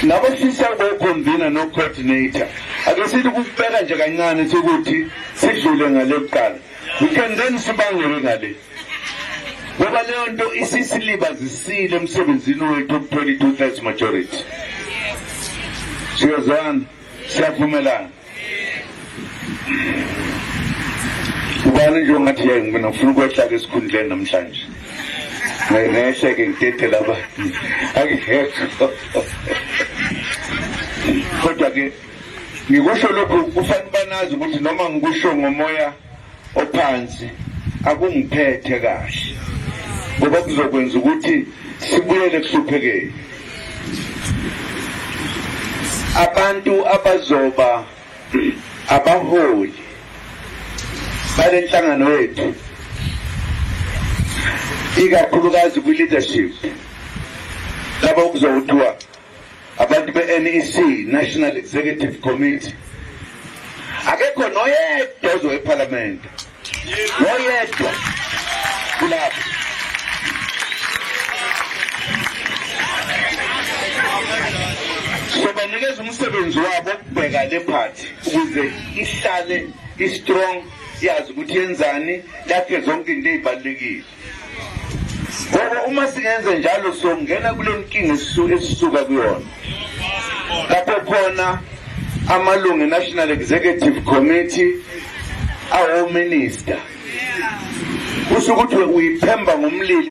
labo sisi abakhonvina no-coordinator ake sithi kukubeka nje kancane sokuthi sidlule ngale kuqala we can then sibangele ngale ngoba leyo nto isisilibazisile emsebenzini wethu okuthola i-two thirds majority siyozwana siyavumelana ubani nje ongathi yayi mina ngifuna ukwehla-ke esikhundleni namhlanje ngehle-ke ngidedele abantu angihekho kodwa-ke ngikusho lokhu kufanele banazi ukuthi noma ngikusho ngomoya ophansi akungiphethe kahle ngoba kuzokwenza ukuthi sibuyele kuhluphekeni abantu abazoba abaholi bale nhlangano yethu ikakhulukazi kwi-leadership laba okuzokuthiwa Abantu be-NEC National Executive Committee akekho noyedwa ozoya ephalamende noyedwa kulapho sobanikeza umsebenzi wabo ukubheka le phathi ukuze ihlale i-strong yazi ukuthi yenzani lakhe zonke into ey'balulekile ngoba uma singenze njalo songena kule nkinga esisuka kuyona lapho khona amalungu national executive committee awominister kusho ukuthi uyiphemba ngomlilo